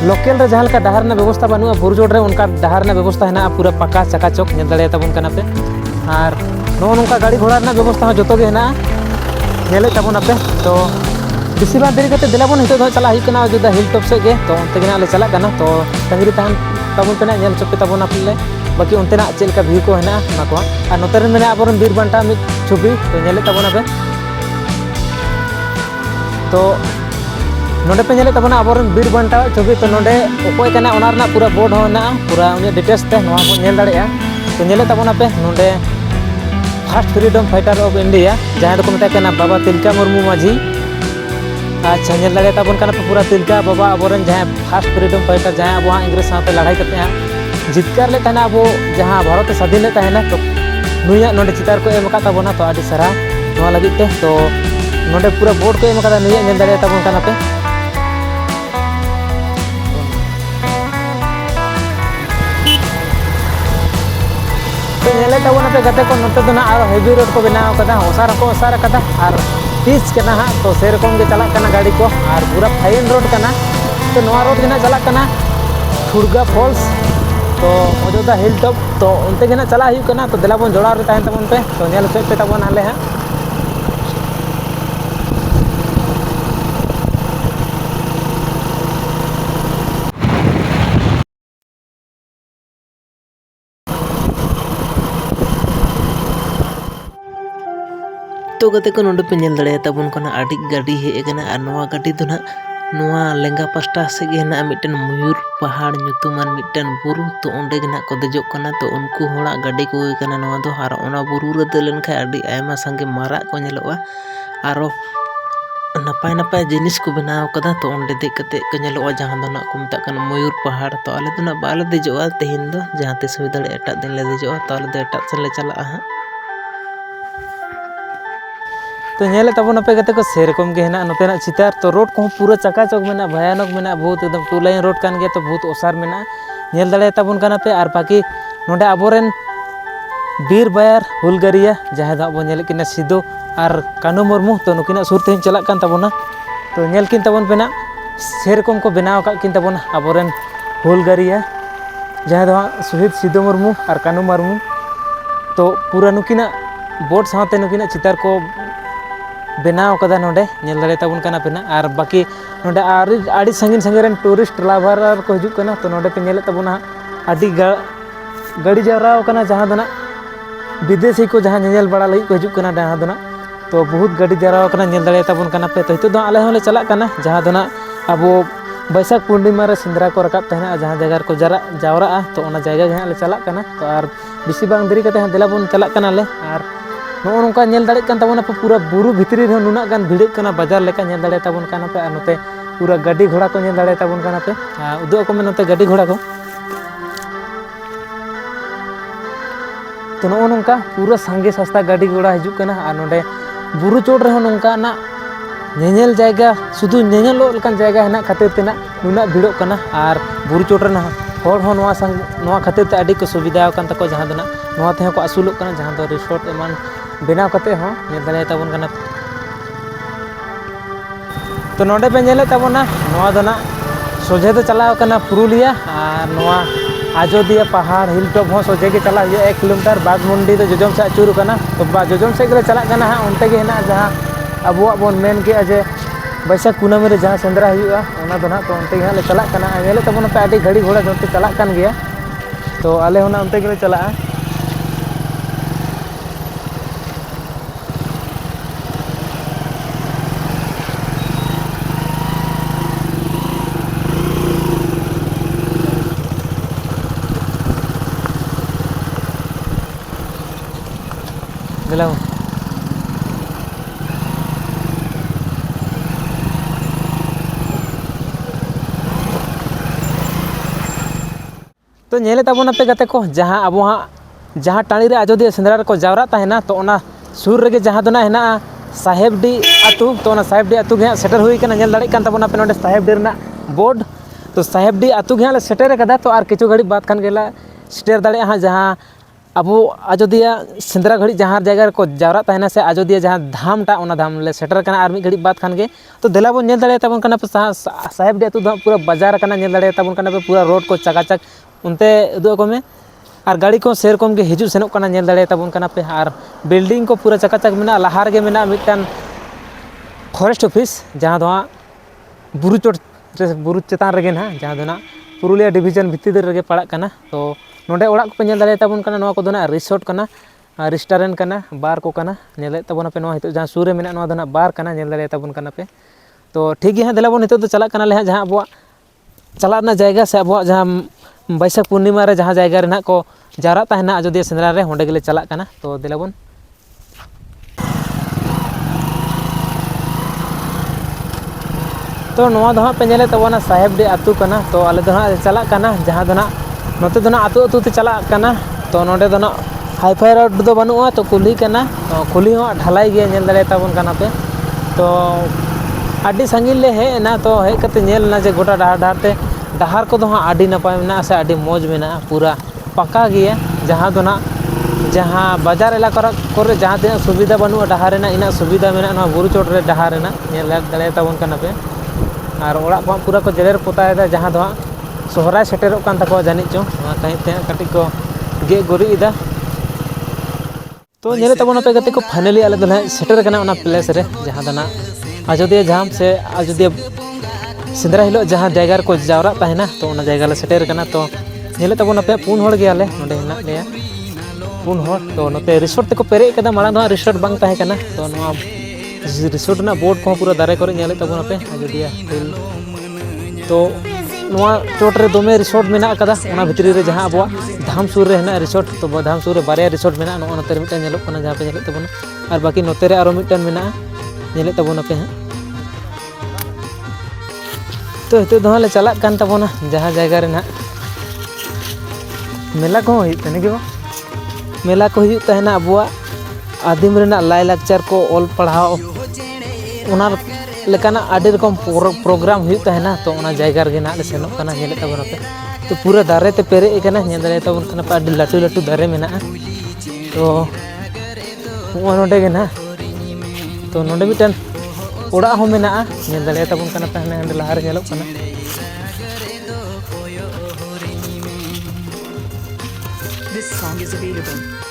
Speaker 1: ᱞᱳᱠᱮᱞ ᱨᱮ ᱡᱟᱦᱟᱸ ᱞᱮᱠᱟ ᱰᱟᱦᱟᱨ ᱨᱮᱱᱟᱜ ᱵᱮᱵᱚᱥᱛᱷᱟ ᱵᱟᱹᱱᱩᱜᱼᱟ ᱵᱩᱨᱩ ᱪᱚᱴ ᱨᱮ ᱚᱱᱠᱟ ᱰᱟᱦᱟᱨ ᱨᱮᱱᱟᱜ ᱵᱮᱵᱚᱥᱛᱷᱟ ᱦᱮᱱᱟᱜᱼᱟ ᱯᱩᱨᱟᱹ ᱯᱟᱠᱟ ᱪᱟᱠᱟᱪᱚᱠ ᱧᱮᱞ ᱫᱟᱲᱮ ᱛᱟᱵᱚᱱ ᱠᱟᱱᱟ ᱯᱮ ᱟᱨ ᱱᱚᱜᱼᱚ ᱱᱚᱝᱠᱟ ᱜᱟᱹᱰᱤ ᱜᱷᱚᱲᱟ ᱨᱮᱱᱟᱜ ᱵᱮᱵᱚᱥᱛᱷᱟ ᱦᱚᱸ ᱡᱚᱛᱚ ᱜᱮ ᱦᱮᱱᱟᱜᱼᱟ ᱧᱮᱞᱮᱫ ᱛᱟᱵᱚᱱᱟ ᱯᱮ ᱛᱚ ᱵᱮᱥᱤ ᱵᱟᱝ ᱫᱮᱨᱤ ᱠᱟᱛᱮ ᱫᱮᱞᱟ ᱵᱚᱱ ᱱᱤᱛᱚᱜ ᱫᱚ ᱪᱟᱞᱟᱜ ᱦᱩᱭᱩᱜ ᱠᱟᱱᱟ ᱚᱡᱳᱫᱽᱫᱷᱟ ᱦᱤᱞ ᱴᱚᱯ ᱥᱮᱫ ᱜᱮ ᱛᱚ ᱚᱱᱛᱮ ᱜᱮ ᱱᱟᱜ ᱞᱮ ᱪᱟᱞᱟᱜ ᱠᱟᱱᱟ ᱛᱚ ᱛᱟᱺᱜᱤ ᱨᱮ ᱛᱟᱦᱮᱱ ᱛᱟᱵᱚᱱ ᱯᱮ ᱱᱟᱜ ᱧᱮᱞ ᱦᱚᱪᱚ ᱯᱮ ᱛᱟᱵᱚᱱᱟ ᱯᱮ ᱵᱟᱹᱠᱤ ᱚᱱᱛᱮᱱᱟᱜ ᱪᱮᱫ ᱞᱮᱠᱟ ᱵᱷᱤᱭᱩ ᱠᱚ ᱦᱮᱱᱟᱜᱼᱟ ᱚᱱᱟ ᱠᱚ ᱟᱨ ᱱᱚᱛᱮ ᱨᱮ ᱢᱮᱱᱟᱜᱼᱟ ᱟᱵᱚᱨᱮᱱ ᱵᱤᱨ ᱵᱟᱱᱴᱟ ᱢᱤᱫ ᱪᱷᱚᱵᱤ ᱛᱚ ᱧᱮᱞᱮᱫ ᱛᱟᱵᱚᱱᱟ ᱯᱮ ᱛᱚ ᱱᱚᱰᱮ ᱯᱮ ᱧᱮᱞᱮᱫ ᱛᱟᱵᱚᱱᱟ ᱟᱵᱚᱨᱮᱱ ᱵᱤᱨ ᱵᱟᱱᱴᱟ ᱪᱷᱚᱵᱤ ᱛᱚ ᱱᱚᱰᱮ ᱚᱠᱚᱭ ᱠᱟᱱᱟ ᱚᱱᱟ ᱨᱮᱱᱟᱜ ᱯᱩᱨᱟᱹ ᱵᱳᱨᱰ ᱦᱚᱸ ᱦᱮᱱᱟᱜᱼᱟ ᱯᱩᱨᱟᱹ ᱩᱱᱤᱭᱟᱜ ᱰᱤᱴᱮᱞᱥ ᱛᱮ ᱱᱚᱣᱟ ᱵᱚᱱ ᱧᱮᱞ ᱫᱟᱲᱮᱭᱟᱜᱼᱟ ᱛᱚ ᱧᱮᱞᱮᱫ ᱛᱟᱵᱚᱱᱟ ᱯᱮ ᱱᱚᱰᱮ first freedom fighter of India ᱡᱟᱦᱟᱸᱭ ᱫᱚᱠᱚ ᱢᱮᱛᱟᱭ ᱠᱟᱱᱟ ᱵᱟᱵᱟ ᱛᱤᱞᱠᱟ ᱢᱩᱨᱢᱩ ᱢᱟᱹᱡᱷᱤ ᱟᱪᱪᱷᱟ ᱧᱮᱞ ᱫᱟᱲᱮ ᱛᱟᱵᱚᱱ ᱠᱟᱱᱟ ᱯᱮ ᱯᱩᱨᱟ ᱛᱤᱞᱠᱟ ᱵᱟᱵᱟ ᱟᱵᱚᱨᱮᱱ ᱡᱟᱦᱟᱸ ᱯᱷᱟᱥᱴ ᱯᱷᱨᱤᱰᱚᱢ ᱯᱟᱭᱴᱟᱨ ᱡᱟᱦᱟᱸ ᱟᱵᱚ ᱤᱝᱨᱮᱡᱽ ᱥᱟᱶᱛᱮ ᱞᱟᱲᱟᱭ ᱠᱟᱛᱮ ᱡᱤᱛᱠᱟᱨ ᱞᱮ ᱛᱟᱦᱮᱱᱟ ᱟᱵᱚ ᱡᱟᱦᱟᱸ ᱵᱷᱟᱨᱚᱛ ᱨᱮ ᱥᱟᱹᱫᱷᱤᱱ ᱞᱮ ᱛᱟᱦᱮᱱᱟ ᱛᱚ ᱱᱩᱭᱟᱜ ᱱᱚᱰᱮ ᱪᱤᱛᱟᱨ ᱠᱚ ᱮᱢ ᱟᱠᱟᱫ ᱛᱟᱵᱚᱱᱟ ᱛᱚ ᱟᱹᱰᱤ ᱥᱟᱨᱦᱟᱣ ᱱᱚᱣᱟ ᱞᱟᱹᱜᱤᱫ ᱛᱮ ᱛᱚ ᱱᱚᱰᱮ ᱯᱩᱨᱟ ᱵᱳᱨᱰ ᱠᱚ ᱮᱢ ᱟᱠᱟᱫᱟ ᱱᱩᱭᱟᱜ ᱧᱮᱞ ᱫᱟᱲᱮ ᱛᱟᱵᱚᱱ ᱠᱟᱱᱟ ᱯᱮ ᱧᱮᱞᱮᱫ ᱛᱟᱵᱚᱱᱟ ᱯᱮ ᱜᱟᱛᱮ ᱠᱚ ᱱᱚᱛᱮ ᱫᱚ ᱱᱟᱦᱟᱜ ᱟᱨᱚ ᱦᱮᱵᱤ ᱨᱳᱰ ᱠᱚ ᱵᱮᱱᱟᱣ ᱠᱟᱫᱟ ᱚᱥᱟᱨ ᱦᱚᱸᱠᱚ ᱚᱥᱟᱨ ᱠᱟᱫᱟ ᱟᱨ ᱯᱤᱪ ᱠᱟᱱᱟ ᱦᱟᱸᱜ ᱛᱚ ᱥᱮᱨᱚᱠᱚᱢ ᱜᱮ ᱪᱟᱞᱟᱜ ᱠᱟᱱᱟ ᱜᱟᱹᱰᱤ ᱠᱚ ᱟᱨ ᱯᱩᱨᱟ ᱯᱷᱟᱭᱤᱱ ᱨᱳᱰ ᱠᱟᱱᱟ ᱛᱚ ᱱᱚᱣᱟ ᱨᱳᱰ ᱜᱮ ᱱᱟᱦᱟᱜ ᱪᱟᱞᱟᱜ ᱠᱟᱱᱟ ᱴᱷᱩᱲᱜᱟ ᱯᱷᱚᱞᱥ ᱛᱚ ᱚᱡᱳᱫᱽᱫᱷᱟ ᱦᱤᱞ ᱴᱚᱯ ᱛᱚ ᱚᱱᱛᱮ ᱜᱮ ᱱᱟᱦᱟᱜ ᱪᱟᱞᱟᱜ ᱦᱩᱭᱩᱜ ᱠᱟᱱᱟ ᱛᱚ ᱫᱮᱞᱟ ᱵᱚᱱ ᱡᱚᱲᱟᱣ ᱨᱮ ᱛᱟᱦᱮᱱ ᱛᱟᱵᱚᱱ ᱯᱮ ᱛᱚ ᱧᱮᱞ ᱦᱚᱪᱚᱭᱮᱫ ᱯᱮ ᱛᱟᱵᱚᱱᱟᱞᱮ ᱦᱟᱸᱜ ᱡᱚᱛᱚ ᱠᱟᱛᱮ ᱠᱚ ᱱᱚᱰᱮ ᱯᱮ ᱧᱮᱞ ᱫᱟᱲᱮᱭᱟᱛᱟᱵᱚᱱ ᱠᱟᱱᱟ ᱟᱹᱰᱤ ᱜᱟᱹᱰᱤ ᱦᱮᱡ ᱟᱠᱟᱱᱟ ᱟᱨ ᱱᱚᱣᱟ ᱜᱟᱹᱰᱤ ᱫᱚ ᱱᱟᱦᱟᱜ ᱱᱚᱣᱟ ᱞᱮᱸᱜᱟ ᱯᱟᱥᱴᱟ ᱥᱮᱫ ᱜᱮ ᱦᱮᱱᱟᱜᱼᱟ ᱢᱤᱫᱴᱮᱱ ᱢᱚᱭᱩᱨ ᱯᱟᱦᱟᱲ ᱧᱩᱛᱩᱢᱟᱱ ᱢᱤᱫᱴᱮᱱ ᱵᱩᱨᱩ ᱛᱚ ᱚᱸᱰᱮ ᱜᱮ ᱱᱟᱦᱟᱜ ᱠᱚ ᱫᱮᱡᱚᱜ ᱠᱟᱱᱟ ᱛᱚ ᱩᱱᱠᱩ ᱦᱚᱲᱟᱜ ᱜᱟᱹᱰᱤ ᱠᱚᱜᱮ ᱠᱟᱱᱟ ᱱᱚᱣᱟ ᱫᱚ ᱟᱨ ᱚᱱᱟ ᱵᱩᱨᱩ ᱨᱮ ᱫᱮᱡ ᱞᱮᱱᱠᱷᱟᱱ ᱟᱹᱰᱤ ᱟᱭᱢᱟ ᱥᱟᱸᱜᱮ ᱢᱟᱨᱟᱜ ᱠᱚ ᱧᱮᱞᱚᱜᱼᱟ ᱟᱨᱚ ᱱᱟᱯᱟᱭ ᱱᱟᱯᱟᱭ ᱡᱤᱱᱤᱥ ᱠᱚ ᱵᱮᱱᱟᱣ ᱠᱟᱫᱟ ᱛᱚ ᱚᱸᱰᱮ ᱫᱮᱡ ᱠᱟᱛᱮᱫ ᱠᱚ ᱧᱮᱞᱚᱜᱼᱟ ᱡᱟᱦᱟᱸ ᱫᱚ ᱱᱟᱦᱟᱜ ᱠᱚ ᱢᱮᱛᱟᱜ ᱠᱟᱱᱟ ᱢᱚᱭᱩᱨ ᱯᱟᱦᱟᱲ ᱛᱚ ᱟᱞᱮ ᱫᱚ ᱱᱟᱦᱟᱜ ᱵᱟᱞᱮ ᱫᱮᱡᱚᱜᱼᱟ ᱛᱮᱦᱮᱧ ᱫᱚ ᱡᱟᱦᱟᱸ ᱛᱤᱥ ᱦᱩᱭ ᱫᱟᱲᱮᱭᱟᱜᱼᱟ ᱮᱴᱟᱜ ᱫᱤᱱ ᱞᱮ ᱫᱮᱡᱚᱜᱼᱟ ᱛᱚ ᱟᱞᱮ ᱫᱚ ᱮᱴᱟᱜ ᱥᱮᱫ ᱞᱮ ᱪᱟᱞᱟᱜᱼᱟ ᱦᱟᱸᱜ ᱛᱚ ᱧᱮᱞᱮᱫ ᱛᱟᱵᱚᱱ ᱟᱯᱮ ᱜᱟᱛᱮ ᱠᱚ ᱥᱮᱨᱚᱠᱚᱢ ᱜᱮ ᱦᱮᱱᱟᱜᱼᱟ ᱱᱚᱛᱮᱱᱟᱜ ᱪᱤᱛᱟᱹᱨ ᱛᱚ ᱨᱳᱰ ᱠᱚᱦᱚᱸ ᱯᱩᱨᱟᱹ ᱪᱟᱠᱟᱪᱚᱠ ᱢᱮᱱᱟᱜᱼᱟ ᱵᱷᱚᱭᱟᱱᱚᱠ ᱢᱮᱱᱟᱜᱼᱟ ᱵᱚᱦᱩᱛ ᱮᱠᱫᱚᱢ ᱴᱩ ᱞᱟᱭᱤᱱ ᱨᱳᱰ ᱠᱟᱱ ᱜᱮᱭᱟ ᱛᱚ ᱵᱚᱦᱩᱛ ᱚᱥᱟᱨ ᱢᱮᱱᱟᱜᱼᱟ ᱧᱮᱞ ᱫᱟᱲᱮᱭᱟ ᱛᱟᱵᱚᱱ ᱠᱟᱱᱟ ᱯᱮ ᱟᱨ ᱵᱟᱹᱠᱤ ᱱᱚᱰᱮ ᱟᱵᱚᱨᱮᱱ ᱵᱤᱨ ᱵᱟᱭᱟᱨ ᱦᱩᱞᱜᱟᱹᱨᱤᱭᱟᱹ ᱡᱟᱦᱟᱸᱭ ᱫᱚ ᱦᱟᱸᱜ ᱵᱚᱱ ᱧᱮᱞᱮᱫ ᱠᱤᱱᱟ ᱥᱤᱫᱩ ᱟᱨ ᱠᱟᱹᱱᱦᱩ ᱢᱩᱨᱢᱩ ᱛᱚ ᱱᱩᱠᱤᱱᱟᱜ ᱥᱩᱨ ᱛᱮᱦᱚᱧ ᱪᱟᱞᱟᱜ ᱠᱟᱱ ᱛᱟᱵᱚᱱᱟ ᱛᱚ ᱧᱮᱞ ᱠᱤᱱ ᱛᱟᱵᱚᱱ ᱯᱮ ᱱᱟᱜ ᱥᱮᱨᱚᱠᱚᱢ ᱠᱚ ᱵᱮᱱᱟᱣ ᱟᱠᱟᱫ ᱠᱤᱱ ᱛᱟᱵᱚᱱᱟ ᱟᱵᱚᱨᱮᱱ ᱦᱩᱞᱜᱟᱹᱨᱤᱭᱟᱹ ᱡᱟᱦᱟᱸᱭ ᱫᱚ ᱦᱟᱸᱜ ᱥᱚᱦᱤᱫ ᱥᱤᱫᱩ ᱢᱩᱨᱢᱩ ᱟᱨ ᱠᱟᱹᱱᱦᱩ ᱢᱩᱨᱢᱩ ᱛᱚ ᱯᱩᱨᱟᱹ ᱱᱩᱠᱤᱱᱟᱜ ᱵᱳᱴ ᱥᱟᱶᱛᱮ ᱱᱩᱠᱤᱱᱟᱜ ᱪᱤᱛᱟᱹᱨ ᱠᱚ ᱵᱮᱱᱟᱣ ᱠᱟᱫᱟ ᱱᱚᱰᱮ ᱧᱮᱞ ᱫᱟᱲᱮ ᱛᱟᱵᱚᱱ ᱠᱟᱱᱟ ᱯᱮ ᱟᱨ ᱵᱟᱹᱠᱤ ᱱᱚᱰᱮ ᱟᱹᱰᱤ ᱟᱹᱰᱤ ᱥᱟᱺᱜᱤᱧ ᱥᱟᱺᱜᱤᱧ ᱨᱮᱱ ᱴᱩᱨᱤᱥᱴ ᱴᱨᱟᱵᱷᱮᱞ ᱠᱚ ᱦᱤᱡᱩᱜ ᱠᱟᱱᱟ ᱛᱚ ᱱᱚᱰᱮ ᱯᱮ ᱧᱮᱞᱮᱫ ᱛᱟᱵᱚᱱᱟ ᱟᱹᱰᱤ ᱜᱟ ᱜᱟᱹᱰᱤ ᱡᱟᱣᱨᱟ ᱠᱟᱱᱟ ᱡᱟᱦᱟᱸ ᱫᱚ ᱱᱟᱜ ᱵᱤᱫᱮᱥᱤ ᱠᱚ ᱡᱟᱦᱟᱸ ᱧᱮᱧᱮᱞ ᱵᱟᱲᱟ ᱞᱟᱹᱜᱤᱫ ᱠᱚ ᱦᱤᱡᱩᱜ ᱠᱟᱱᱟ ᱡᱟᱦᱟᱸ ᱫᱚ ᱱᱟᱜ ᱛᱚ ᱵᱚᱦᱩᱛ ᱜᱟᱹᱰᱤ ᱡᱟᱣᱨᱟ ᱠᱟᱱᱟ ᱧᱮᱞ ᱫᱟᱲᱮ ᱛᱟᱵᱚᱱ ᱠᱟᱱᱟ ᱯᱮ ᱛᱚ ᱱᱤᱛᱚᱜ ᱫᱚ ᱟᱞᱮ ᱦᱚᱸᱞᱮ ᱪᱟᱞᱟᱜ ᱠᱟᱱᱟ ᱡᱟᱦᱟᱸ ᱫᱚ ᱱᱟᱜ ᱟᱵᱚ ᱵᱟᱹᱭᱥᱟᱹᱠᱷ ᱯᱩᱨᱱᱤᱢᱟ ᱨᱮ ᱥᱮᱸᱫᱽᱨᱟ ᱠᱚ ᱨᱟᱠᱟᱵ ᱛᱟᱦᱮᱱᱟ ᱡᱟᱦᱟᱸ ᱡᱟᱭᱜᱟ ᱨᱮᱠᱚ ᱡᱟᱣᱨᱟᱜᱼᱟ ᱛᱚ ᱚᱱᱟ ᱡᱟᱭᱜᱟ ᱜᱮ ᱦᱟᱸᱜ ᱞᱮ ᱪᱟᱞᱟᱜ ᱠᱟᱱᱟ ᱛᱚ ᱟᱨ ᱵᱮᱥᱤ ᱵᱟᱝ ᱫᱮᱨᱤ ᱠᱟᱛᱮ ᱦᱟᱸᱜ ᱫᱮᱞᱟ ᱵᱚᱱ ᱪᱟᱞᱟᱜ ᱠᱟᱱᱟᱞᱮ ᱟᱨ ᱱᱚᱜᱼᱚ ᱱᱚᱝᱠᱟ ᱧᱮᱞ ᱫᱟᱲᱮᱭᱟᱜ ᱠᱟᱱ ᱛᱟᱵᱚᱱᱟ ᱯᱮ ᱯᱩᱨᱟᱹ ᱵᱩᱨᱩ ᱵᱷᱤᱛᱨᱤ ᱨᱮᱦᱚᱸ ᱱᱩᱱᱟᱹᱜ ᱜᱟᱱ ᱵᱷᱤᱲᱟᱹᱜ ᱠᱟᱱᱟ ᱵᱟᱡᱟᱨ ᱞᱮᱠᱟ ᱧᱮᱞ ᱫᱟᱲᱮ ᱛᱟᱵᱚᱱ ᱠᱟᱱᱟ ᱯᱮ ᱟᱨ ᱱᱚᱛᱮ ᱯᱩᱨᱟᱹ ᱜᱟᱹᱰᱤ ᱜᱷᱚᱲᱟ ᱠᱚ ᱧᱮᱞ ᱫᱟᱲᱮ ᱛᱟᱵᱚᱱ ᱠᱟᱱᱟ ᱯᱮ ᱟᱨ ᱩᱫᱩᱜ ᱟᱠᱚ ᱢᱮ ᱱᱚᱛᱮ ᱜᱟᱹᱰᱤ ᱜᱷᱚᱲᱟ ᱠᱚ ᱛᱚ ᱱᱚᱜᱼᱚ ᱱᱚᱝᱠᱟ ᱯᱩᱨᱟᱹ ᱥᱟᱸᱜᱮ ᱥᱟᱥᱛᱟ ᱜᱟᱹᱰᱤ ᱜᱷᱚᱲᱟ ᱦᱤᱡᱩᱜ ᱠᱟᱱᱟ ᱟᱨ ᱱᱚᱰᱮ ᱵᱩᱨᱩ ᱪᱚᱴ ᱨᱮᱦᱚᱸ ᱱᱚᱝᱠᱟᱱᱟᱜ ᱧᱮᱧᱮᱞ ᱡᱟᱭᱜᱟ ᱥᱩᱫᱷᱩ ᱧᱮᱧᱮᱞᱚᱜ ᱞᱮᱠᱟᱱ ᱡᱟᱭᱜᱟ ᱦᱮᱱᱟᱜ ᱠᱷᱟᱹᱛᱤᱨ ᱛᱮ ᱱᱟᱜ ᱱᱩᱱᱟᱹᱜ ᱵᱷᱤᱲᱚᱜ ᱠᱟᱱᱟ ᱟᱨ ᱵᱩᱨᱩ ᱪᱚᱴ ᱨᱮᱱ ᱦᱚᱲ ᱦᱚᱸ ᱱᱚᱣᱟ ᱥᱟᱝ ᱱᱚᱣᱟ ᱠᱷᱟᱹᱛᱤᱨ ᱛᱮ ᱟᱹᱰᱤ ᱠᱚ ᱥᱩᱵᱤᱫᱷᱟᱣ ᱠᱟᱱ ᱛᱟᱠᱚᱣᱟ ᱡᱟᱦᱟᱸ ᱫᱚ ᱦᱟᱸᱜ ᱱᱚᱣᱟ ᱛᱮᱦᱚᱸ ᱠᱚ ᱟᱹᱥᱩᱞᱚᱜ ᱠᱟᱱᱟ ᱡᱟᱦᱟᱸ ᱫᱚ ᱨᱤᱥᱚᱴ ᱮᱢᱟᱱ ᱵᱮᱱᱟᱣ ᱠᱟᱛᱮᱫ ᱦᱚᱸ ᱧᱮᱞ ᱫᱟᱲᱮᱭᱟ ᱛᱟᱵᱚᱱ ᱠᱟᱱᱟ ᱠᱚ ᱛᱚ ᱱᱚᱰᱮ ᱯᱮ ᱧᱮᱞᱮᱫ ᱛᱟᱵᱚᱱᱟ ᱱᱚᱣᱟ ᱫᱚ ᱦᱟᱸᱜ ᱥᱚᱡᱷᱮ ᱫᱚ ᱪᱟᱞᱟᱣ ᱠᱟᱱᱟ ᱯᱩᱨᱩᱞᱤᱭᱟ ᱟᱨ ᱱᱚᱣᱟ ᱟᱡᱳᱫᱤᱭᱟᱹ ᱯᱟᱦᱟᱲ ᱦᱤᱞ ᱴᱚᱯ ᱦᱚᱸ ᱥᱚᱡᱷᱮ ᱜᱮ ᱪᱟᱞᱟᱜ ᱦᱩᱭᱩᱜᱼᱟ ᱮᱠ ᱠᱤᱞᱳᱢᱤᱴᱟᱨ ᱵᱟᱜᱽᱢᱩᱱᱰᱤ ᱫᱚ ᱡᱚᱡᱚᱢ ᱥᱮᱫ ᱟᱹᱪᱩᱨ ᱠᱟᱱᱟ ᱛᱚ ᱡᱚᱡᱚᱢ ᱥᱮᱫ ᱜᱮᱞᱮ ᱪᱟᱞᱟᱜ ᱠᱟᱱᱟ ᱦᱟᱸᱜ ᱚᱱᱛᱮ ᱜᱮ ᱦᱮᱱᱟᱜᱼᱟ ᱡᱟᱦᱟᱸ ᱟᱵᱚᱣᱟᱜ ᱵᱚᱱ ᱢᱮᱱ ᱠᱮᱜᱼᱟ ᱡᱮ ᱵᱟᱹᱭᱥᱟᱹᱠᱷ ᱠᱩᱱᱟᱹᱢᱤ ᱨᱮ ᱡᱟᱦᱟᱸ ᱥᱮᱸᱫᱽᱨᱟ ᱦᱩᱭᱩᱜᱼᱟ ᱚᱱᱟ ᱫᱚ ᱱᱟᱦᱟᱜ ᱛᱚ ᱚᱱᱛᱮ ᱜᱮ ᱦᱟᱸᱜ ᱞᱮ ᱪᱟᱞᱟᱜ ᱠᱟᱱᱟ ᱟᱨ ᱧᱮᱞᱮᱫ ᱛᱟᱵᱚᱱ ᱱᱟᱯᱮ ᱟᱹᱰᱤ ᱜᱷᱟᱹᱲᱤ ᱜᱷᱚᱲᱟ ᱫᱷᱚᱨᱛᱮ ᱪᱟᱞᱟᱜ ᱠᱟᱱ ᱜᱮᱭᱟ ᱛᱚ ᱟᱞᱮ ᱦᱚᱸ ᱱᱟᱜ ᱚᱱᱛᱮ ᱜᱮᱞᱮ ᱪᱟᱞᱟᱜᱼᱟ ᱫᱮᱞᱟ ᱵᱚᱱ ᱛᱚ ᱧᱮᱞᱮᱫ ᱛᱟᱵᱚᱱᱟᱯᱮ ᱜᱟᱛᱮ ᱠᱚ ᱡᱟᱦᱟᱸ ᱟᱵᱚ ᱦᱟᱸᱜ ᱡᱟᱦᱟᱸ ᱴᱟᱺᱰᱤ ᱨᱮ ᱟᱡᱳᱫᱤᱭᱟᱹ ᱥᱮᱸᱫᱽᱨᱟ ᱨᱮᱠᱚ ᱡᱟᱣᱨᱟᱜ ᱛᱟᱦᱮᱱᱟ ᱛᱚ ᱚᱱᱟ ᱥᱩᱨ ᱨᱮᱜᱮ ᱡᱟᱦᱟᱸ ᱫᱚ ᱱᱟᱜ ᱦᱮᱱᱟᱜᱼᱟ ᱥᱟᱦᱮᱵᱰᱤ ᱟᱹᱛᱩ ᱛᱚ ᱚᱱᱟ ᱥᱟᱦᱮᱵᱰᱤ ᱟᱹᱛᱩ ᱜᱮ ᱦᱟᱸᱜ ᱥᱮᱴᱮᱨ ᱦᱩᱭ ᱠᱟᱱᱟ ᱧᱮᱞ ᱫᱟᱲᱮᱭᱟᱜ ᱠᱟᱱ ᱛᱟᱵᱚᱱᱟᱯᱮ ᱱᱚᱰᱮ ᱥᱟᱦᱮᱵᱰᱤ ᱨᱮᱱᱟᱜ ᱵᱳᱨᱰ ᱛᱚ ᱥᱟᱦᱮᱵᱰᱤ ᱟᱹᱛᱩ ᱜᱮ ᱦᱟᱸᱜ ᱞᱮ ᱥᱮᱴᱮᱨ ᱠᱟᱫᱟ ᱛᱚ ᱟᱨ ᱠᱤᱪᱷᱩ ᱜᱷᱟᱹᱲᱤᱡ ᱵᱟᱫᱽ ᱠᱷᱟᱱ ᱜᱮᱞᱮ ᱥᱮᱴᱮᱨ ᱫᱟᱲᱮᱭᱟᱜᱼᱟ ᱦᱟᱸᱜ ᱡᱟᱦᱟᱸ ᱟᱵᱚ ᱟᱡᱳᱫᱤᱭᱟᱹ ᱥᱮᱸᱫᱽᱨᱟ ᱜᱷᱟᱹᱲᱤᱡ ᱡᱟᱦᱟᱸ ᱡᱟᱭᱜᱟ ᱨᱮᱠᱚ ᱡᱟᱣᱨᱟᱜ ᱛᱟᱦᱮᱱᱟ ᱥᱮ ᱟᱡᱳᱫᱤᱭᱟᱹ ᱡᱟᱦᱟᱸ ᱫᱷᱟᱢ ᱴᱟᱜ ᱚᱱᱟ ᱫᱷᱟᱢ ᱞᱮ ᱥᱮᱴᱮᱨ ᱠᱟᱱᱟ ᱟᱨ ᱢᱤᱫ ᱜᱷᱟᱹᱲᱤᱡ ᱵᱟᱫᱽ ᱠᱷᱟᱱ ᱜᱮ ᱛᱚ ᱫᱮᱞᱟ ᱵᱚᱱ ᱧᱮᱞ ᱫᱟᱲᱮᱭᱟᱛᱟ ᱵᱚᱱ ᱠᱟᱱᱟ ᱯᱮ ᱥᱟᱦᱮᱵᱰᱤ ᱟᱛᱳ ᱫᱚ ᱦᱟᱸᱜ ᱯᱩᱨᱟᱹ ᱵᱟᱡᱟᱨ ᱠᱟᱱᱟ ᱧᱮᱞ ᱫᱟᱲᱮᱭᱟᱛᱟ ᱵᱚᱱ ᱠᱟᱱᱟ ᱯᱮ ᱯᱩᱨᱟᱹ ᱨᱳᱰ ᱠᱚ ᱪᱟᱠᱟ ᱪᱟᱠ ᱚᱱᱛᱮ ᱩᱫᱩᱜ ᱟᱠᱚ ᱢᱮ ᱟᱨ ᱜᱟᱹᱲᱤ ᱠᱚ ᱥᱮᱭ ᱨᱚᱠᱚᱢ ᱜᱮ ᱦᱤᱡᱩᱜ ᱥᱮᱱᱚᱜ ᱠᱟᱱᱟ ᱧᱮᱞ ᱫᱟᱲᱮᱭᱟᱛᱟ ᱵᱚᱱ ᱠᱟᱱᱟ ᱯᱮ ᱟᱨ ᱵᱤᱞᱰᱤᱝ ᱠᱚ ᱯᱩᱨᱟᱹ ᱪᱟᱠᱟ ᱪᱟᱠ ᱢᱮᱱᱟᱜᱼᱟ ᱞᱟᱦᱟ ᱨᱮᱜᱮ ᱢᱮᱱᱟᱜᱼᱟ ᱢᱤᱫᱴᱟᱝ ᱯᱷᱚᱨᱮᱥᱴ ᱚᱯᱷᱤᱥ ᱡᱟᱦᱟᱸ ᱫᱚ ᱦᱟᱸᱜ ᱵᱩᱨᱩ ᱪᱚᱴ ᱵᱩᱨᱩ ᱪᱮᱛᱟᱱ ᱨᱮᱜᱮ ᱦᱟᱸᱜ ᱡᱟᱦᱟᱸ ᱫᱚ ᱦᱟᱸᱜ ᱯᱩᱨᱩᱞᱤᱭᱟᱹ ᱰᱤᱵᱷᱤᱡᱮᱱ ᱵᱷᱤᱛᱨᱤ ᱨᱮᱜᱮ ᱯᱟᱲᱟᱜ ᱠᱟᱱᱟ ᱛᱚ ᱱᱚᱰᱮ ᱚᱲᱟᱜ ᱠᱚᱯᱮ ᱧᱮᱞ ᱫᱟᱲᱮᱭᱟ ᱛᱟᱵᱚᱱ ᱠᱟᱱᱟ ᱱᱚᱣᱟ ᱠᱚᱫᱚ ᱱᱟᱦᱟᱜ ᱨᱤᱥᱚᱨᱴ ᱠᱟᱱᱟ ᱟᱨ ᱨᱮᱥᱴᱩᱨᱮᱱᱴ ᱠᱟᱱᱟ ᱵᱟᱨ ᱠᱚ ᱠᱟᱱᱟ ᱧᱮᱞᱮᱫ ᱛᱟᱵᱚᱱ ᱟᱯᱮ ᱱᱚᱣᱟ ᱱᱤᱛᱚᱜ ᱡᱟᱦᱟᱸ ᱥᱩᱨ ᱨᱮ ᱢᱮᱱᱟᱜ ᱱᱚᱣᱟ ᱫᱚ ᱱᱟᱦᱟᱜ ᱵᱟᱨ ᱠᱟᱱᱟ ᱧᱮᱞ ᱫᱟᱲᱮᱭᱟ ᱛᱟᱵᱚᱱ ᱠᱟᱱᱟ ᱯᱮ ᱛᱚ ᱴᱷᱤᱠ ᱜᱮᱭᱟ ᱦᱟᱸᱜ ᱫᱮᱞᱟ ᱵᱚᱱ ᱱᱤᱛᱚᱜ ᱫᱚ ᱪᱟᱞᱟᱜ ᱠᱟᱱᱟᱞᱮ ᱦᱟᱸᱜ ᱡᱟᱦᱟᱸ ᱟᱵᱚᱣᱟᱜ ᱪᱟᱞᱟᱜ ᱨᱮᱱᱟᱜ ᱡᱟᱭᱜᱟ ᱥᱮ ᱟᱵᱚᱣᱟᱜ ᱡᱟᱦᱟᱸ ᱵᱟᱹᱭᱥᱟᱹᱠᱷ ᱯᱩᱨᱱᱤᱢᱟ ᱨᱮ ᱡᱟᱦᱟᱸ ᱡᱟᱭᱜᱟ ᱨᱮ ᱱᱟᱦᱟᱜ ᱠᱚ ᱡᱟᱣᱨᱟᱜ ᱛᱟᱦᱮᱱᱟ ᱟᱡᱳᱫᱤᱭᱟᱹ ᱥᱮᱸᱫᱽᱨᱟ ᱨᱮ ᱚᱸᱰᱮ ᱜᱮᱞᱮ ᱪᱟᱞᱟᱜ ᱠᱟᱱᱟ ᱛᱚ ᱫᱮᱞᱟ ᱵᱚᱱ ᱛᱚ ᱱᱚᱣᱟ ᱫᱚ ᱦᱟᱸᱜ ᱯᱮ ᱧᱮᱞᱮᱫ ᱛᱟᱵᱚᱱᱟ ᱥᱟᱦᱮᱵᱽ ᱰᱤ ᱟᱹᱛᱩ ᱠᱟᱱᱟ ᱛᱚ ᱟᱞᱮ ᱫᱚ ᱦᱟᱸᱜ ᱪᱟᱞᱟᱜ ᱠᱟᱱᱟ ᱡᱟᱦᱟᱸ ᱫᱚ ᱦᱟᱸᱜ ᱱᱚᱛᱮ ᱫᱚ ᱦᱟᱸᱜ ᱟᱹᱛᱩ ᱟᱹᱛᱩ ᱛᱮ ᱪᱟᱞᱟᱜ ᱠᱟᱱᱟ ᱛᱚ ᱱᱚᱸᱰᱮ ᱫᱚ ᱦᱟᱸᱜ ᱦᱟᱭᱯᱷᱟᱭ ᱨᱳᱰ ᱫᱚ ᱵᱟᱹᱱᱩᱜᱼᱟ ᱛᱚ ᱠᱩᱞᱦᱤ ᱠᱟᱱᱟ ᱛᱚ ᱠᱩᱞᱦᱤ ᱦᱚᱸ ᱰᱷᱟᱞᱟᱭ ᱜᱮᱭᱟ ᱧᱮᱞ ᱫᱟᱲᱮ ᱛᱟᱵᱚᱱ ᱠᱟᱱᱟ ᱯᱮ ᱛᱚ ᱟᱹᱰᱤ ᱥᱟᱺᱜᱤᱧ ᱞᱮ ᱦᱮᱡ ᱮᱱᱟ ᱛᱚ ᱦᱮᱡ ᱠᱟᱛᱮ ᱧᱮᱞ ᱮᱱᱟ ᱡᱮ ᱜᱚᱴᱟ ᱰᱟᱦᱟᱨ ᱰᱟᱦᱟᱨ ᱛᱮ ᱰᱟᱦᱟᱨ ᱠᱚᱫᱚ ᱦᱟᱸᱜ ᱟᱹᱰᱤ ᱱᱟᱯᱟᱭ ᱢᱮᱱᱟᱜᱼᱟ ᱥᱮ ᱟᱹᱰᱤ ᱢᱚᱡᱽ ᱢᱮᱱᱟᱜᱼᱟ ᱯᱩᱨᱟᱹ ᱯᱟᱠᱟ ᱜᱮᱭᱟ ᱡᱟᱦᱟᱸ ᱫᱚ ᱦᱟᱸᱜ ᱡᱟᱦᱟᱸ ᱵᱟᱡᱟᱨ ᱮᱞᱟᱠᱟ ᱠᱚᱨᱮ ᱡᱟᱦᱟᱸ ᱛᱤᱱᱟᱹᱜ ᱥᱩᱵᱤᱫᱷᱟ ᱵᱟᱹᱱᱩᱜᱼᱟ ᱰᱟᱦᱟᱨ ᱨᱮᱱᱟᱜ ᱤᱱᱟᱹᱜ ᱥᱩᱵᱤᱫᱷᱟ ᱢᱮᱱᱟᱜᱼᱟ ᱱᱚᱣᱟ ᱵᱩᱨᱩ ᱪᱚᱴ ᱨᱮ ᱰᱟᱦᱟᱨ ᱨᱮᱱᱟᱜ ᱧᱮᱞ ᱫᱟᱲᱮᱭᱟ ᱛᱟᱵᱚᱱ ᱠᱟᱱᱟ ᱯᱮ ᱟᱨ ᱚᱲᱟᱜ ᱠᱚᱦᱚᱸ ᱯᱩᱨᱟᱹ ᱠᱚ ᱡᱮᱨᱮᱲ ᱯᱚᱛᱟᱣᱮᱫᱟ ᱡᱟᱦᱟᱸ ᱫᱚ ᱦᱟᱸᱜ ᱥᱚᱦᱨᱟᱭ ᱥᱮᱴᱮᱨᱚᱜ ᱠᱟᱱ ᱛᱟᱠᱚᱣᱟ ᱡᱟᱹᱱᱤᱡ ᱪᱚᱝ ᱚᱱᱟ ᱠᱷᱟᱹᱛᱤᱨ ᱛᱮ ᱠᱟᱹᱴᱤᱡ ᱠᱚ ᱜᱮᱡ ᱜᱩᱨᱤᱡ ᱮᱫᱟ ᱛᱚ ᱧᱮᱞᱮᱫ ᱛᱟᱵᱚᱱ ᱟᱯᱮ ᱜᱟᱛᱮ ᱠᱚ ᱯᱷᱟᱭᱱᱟᱞᱤ ᱟᱞᱮ ᱫᱚ ᱱᱟᱦᱟᱜ ᱥᱮᱴᱮᱨ ᱠᱟᱱᱟ ᱚᱱᱟ ᱯᱞᱮᱥ ᱨᱮ ᱡᱟᱦᱟᱸ ᱫᱚ ᱱᱟᱦᱟᱜ ᱟᱡᱚᱫᱤᱭᱟᱹ ᱡᱟᱢ ᱥᱮ ᱟᱡᱚᱫᱤᱭᱟᱹ ᱥᱮᱸᱫᱽᱨᱟ ᱦᱤᱞᱳᱜ ᱡᱟᱦᱟᱸ ᱡᱟᱭᱜᱟ ᱨᱮᱠᱚ ᱡᱟᱣᱨᱟᱜ ᱛᱟᱦᱮᱱᱟ ᱛᱚ ᱚᱱᱟ ᱡᱟᱭᱜᱟ ᱞᱮ ᱥᱮᱴᱮᱨ ᱠᱟᱱᱟ ᱛᱚ ᱧᱮᱞᱮᱫ ᱛᱟᱵᱚᱱ ᱟᱯᱮ ᱯᱩᱱ ᱦᱚᱲ ᱜᱮᱭᱟᱞᱮ ᱱᱚᱰᱮ ᱦᱮᱱᱟᱜ ᱞᱮᱭᱟ ᱯᱩᱱ ᱦᱚᱲ ᱛᱚ ᱱᱚᱛᱮ ᱨᱤᱥᱚᱨᱴ ᱛᱮᱠᱚ ᱯᱮᱨᱮᱡ ᱠᱟᱫᱟ ᱢᱟᱲᱟᱝ ᱫᱚ ᱦᱟᱸᱜ ᱨᱤᱥᱚᱨᱴ ᱵᱟᱝ ᱛᱟᱦᱮᱸ ᱠᱟᱱᱟ ᱛᱚ ᱱᱚᱣᱟ ᱨᱤᱥᱚᱨᱴ ᱨᱮᱱᱟᱜ ᱵᱳᱨᱰ ᱠᱚᱦᱚᱸ ᱯᱩᱨᱟᱹ ᱫᱟᱨᱮ ᱠᱚᱨᱮ ᱧᱮᱞᱮᱫ ᱛᱟᱵᱚᱱ ᱟᱯᱮ ᱟᱡᱚᱫᱤᱭᱟᱹ ᱦᱤᱞ ᱛᱚ ᱱᱚᱣᱟ ᱪᱚᱴ ᱨᱮ ᱫᱚᱢᱮ ᱨᱤᱥᱚᱨᱴ ᱢᱮᱱᱟᱜ ᱟᱠᱟᱫᱟ ᱚᱱᱟ ᱵᱷᱤᱛᱨᱤ ᱨᱮ ᱡᱟᱦᱟᱸ ᱟᱵᱚᱣᱟᱜ ᱫᱷᱟᱢ ᱥᱩᱨ ᱨᱮ ᱦᱮᱱᱟᱜ ᱨᱤᱥᱚᱨᱴ ᱛᱚ ᱫᱷᱟᱢ ᱥᱩᱨ ᱨᱮ ᱵᱟᱨᱭᱟ ᱨᱤᱥᱚᱨᱴ ᱢᱮᱱᱟᱜᱼᱟ ᱱᱚᱜᱼᱚ ᱱᱚᱛᱮ ᱨᱮ ᱢᱤᱫᱴᱟᱝ ᱧᱮᱞᱚᱜ ᱠᱟᱱᱟ ᱡᱟᱦᱟᱸ ᱯᱮ ᱧᱮᱞᱮᱫ ᱛᱟᱵᱚᱱᱟ ᱟᱨ ᱵᱟᱹᱠᱤ ᱱᱚᱛᱮ ᱨᱮ ᱟᱨᱚ ᱢᱤᱫᱴᱟᱝ ᱢᱮᱱᱟᱜᱼᱟ ᱧᱮᱞᱮᱫ ᱛᱟᱵᱚᱱᱟᱯᱮ ᱦᱟᱸᱜ ᱛᱚ ᱱᱤᱛᱚᱜ ᱫᱚ ᱦᱟᱸᱜ ᱞᱮ ᱪᱟᱞᱟᱜ ᱠᱟᱱ ᱛᱟᱵᱚᱱᱟ ᱡᱟᱦᱟᱸ ᱡᱟᱭᱜᱟ ᱨᱮ ᱱᱟᱜ ᱢᱮᱞᱟ ᱠᱚᱦᱚᱸ ᱦᱩᱭᱩᱜ ᱛᱟᱦᱮᱱᱟ ᱜᱮ ᱵᱟᱝ ᱢᱮᱞᱟ ᱠᱚ ᱦᱩᱭᱩᱜ ᱛᱟᱦᱮᱱᱟ ᱟᱵᱚᱣᱟᱜ ᱟᱹᱫᱤᱢ ᱨᱮᱱᱟᱜ ᱞᱟᱭᱼᱞᱟᱠᱪᱟᱨ ᱠᱚ ᱚᱞ ᱯᱟᱲᱦᱟᱣ ᱚᱱᱟ ᱞᱮᱠᱟᱱᱟᱜ ᱟᱹᱰᱤ ᱨᱚᱠᱚᱢ ᱯᱨᱳᱜᱨᱟᱢ ᱦᱩᱭᱩᱜ ᱛᱟᱦᱮᱱᱟ ᱛᱚ ᱚᱱᱟ ᱡᱟᱭᱜᱟ ᱨᱮᱜᱮ ᱱᱟᱦᱟᱜ ᱞᱮ ᱥᱮᱱᱚᱜ ᱠᱟᱱᱟ ᱧᱮᱞᱮᱫ ᱛᱟᱵᱚᱱᱟᱯᱮ ᱛᱚ ᱯᱩᱨᱟᱹ ᱫᱟᱨᱮ ᱛᱮ ᱯᱮᱨᱮᱡ ᱟᱠᱟᱱᱟ ᱧᱮᱞ ᱫᱟᱲᱮ ᱛᱟᱵᱚᱱ ᱠᱟᱱᱟ ᱯᱮ ᱟᱹᱰᱤ ᱞᱟᱹᱴᱩ ᱞᱟᱹᱴᱩ ᱫᱟᱨᱮ ᱢᱮᱱᱟᱜᱼᱟ ᱛᱚ ᱱᱚᱜᱼᱚ ᱱᱚᱰᱮ ᱜᱮ ᱱᱟᱦᱟᱜ ᱛᱚ ᱱᱚᱰᱮ ᱢᱤᱫᱴᱟᱝ ᱚᱲᱟᱜ ᱦᱚᱸ ᱢᱮᱱᱟᱜᱼᱟ ᱧᱮᱞ ᱫᱟᱲᱮ ᱛᱟᱵᱚᱱ ᱠᱟᱱᱟ ᱯᱮ ᱦᱟᱱᱮ ᱦᱟᱸᱰᱮ ᱞᱟᱦᱟᱨᱮ ᱧᱮᱞᱚᱜ ᱠᱟᱱᱟ
Speaker 2: This song is available.